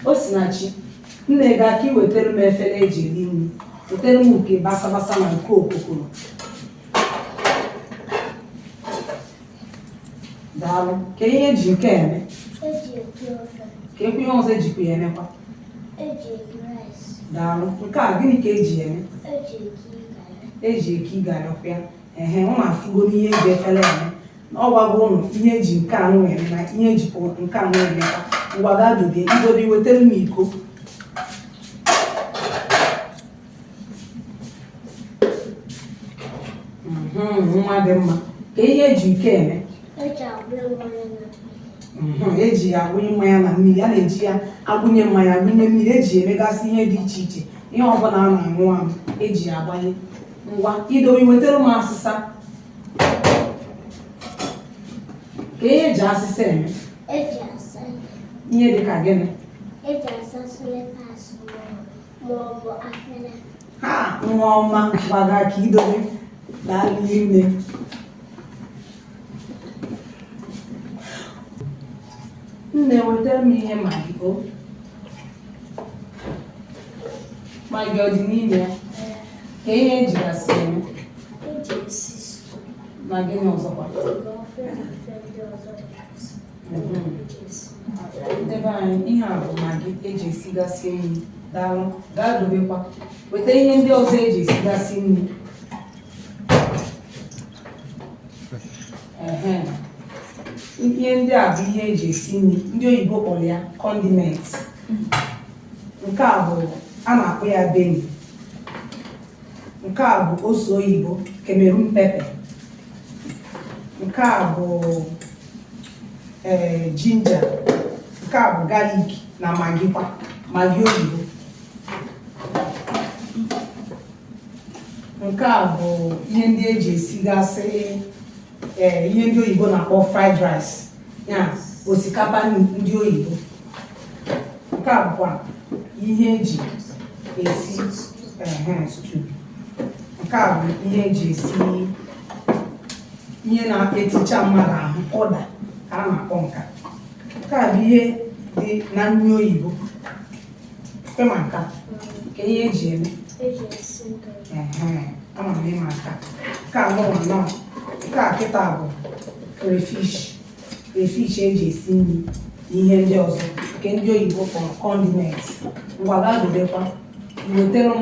Osinachi, nne gaa ka iwetara m efere eji eri nri wetara m nke basabasa na nke okokoro daalụ ka ihe eji nke a eme eji eke ofe ka ekwe ihe ọzọ ejikwa ya emekwa eji eke rice daalụ nke a gịnị ka eji ya eme eji eke garị eji eke garị ọkwa ya ehe ụnụ afụgo n'ihe eji efere eme na ọ gwago ụnụ ihe eji nke anụ eme na ihe ejikwa nke anụ eme ngwa gaa dobe idobe iwetara m iko mhm, nwa dị mma ka ihe eji iko eme mhm, eji ya agbụnye mmanya na mmiri a na-eji ya agbụnye mmanya agbụnye mmiri eji emegasị ihe dị iche iche ihe ọbụla a na-aṅụ aṅụ eji ya agbanye ngwa idowe wetara m asịsa ka ihe eji asịsa eme eji asa ihe dị ka gịnị eji asa slippers ma ọ bụ afere ha nwa ọma gbaga ka idowe daalụ ime Nne wetara m ihe magi o magi ọ dị n'ime ya ka ihe ejigasị eme na gịnị ọzọkwa ndị be anyị ihe a bụ magi eji esigasị nri daalụ gaa dobekwa weta ihe ndị ọzọ eji esigasị nri ihe ndị a bụ ihe eji esi nri ndị oyibo kpọrọ ya condiment nke a bụ a na-akpọ ya beni nke a bụ ose oyibo Cameroon pepper nke a bụ ee eh, ginger nke a bụ garlic na magikwa magi oyibo nke a bụ ihe ndị eji esigasị ee eh, ihe ndị oyibo na-akpọ fried rice ya osikapa ndị oyibo nke a bụkwa ihe eji esi stew nke a bụ ihe eji esi ihe na-eticha mmadụ ahụ ụda ka a na-akpọ nka nke a bụ ihe dị na nri oyibo ịma nka ka ihe eji eme ama m ịma nka nke anụwa nọ nke a kịta bụ crayfish crayfish eji esi nri na ihe ndị ọzọ nke ndị oyibo kpọrọ condiment ngwa gaa dobekwa wetere m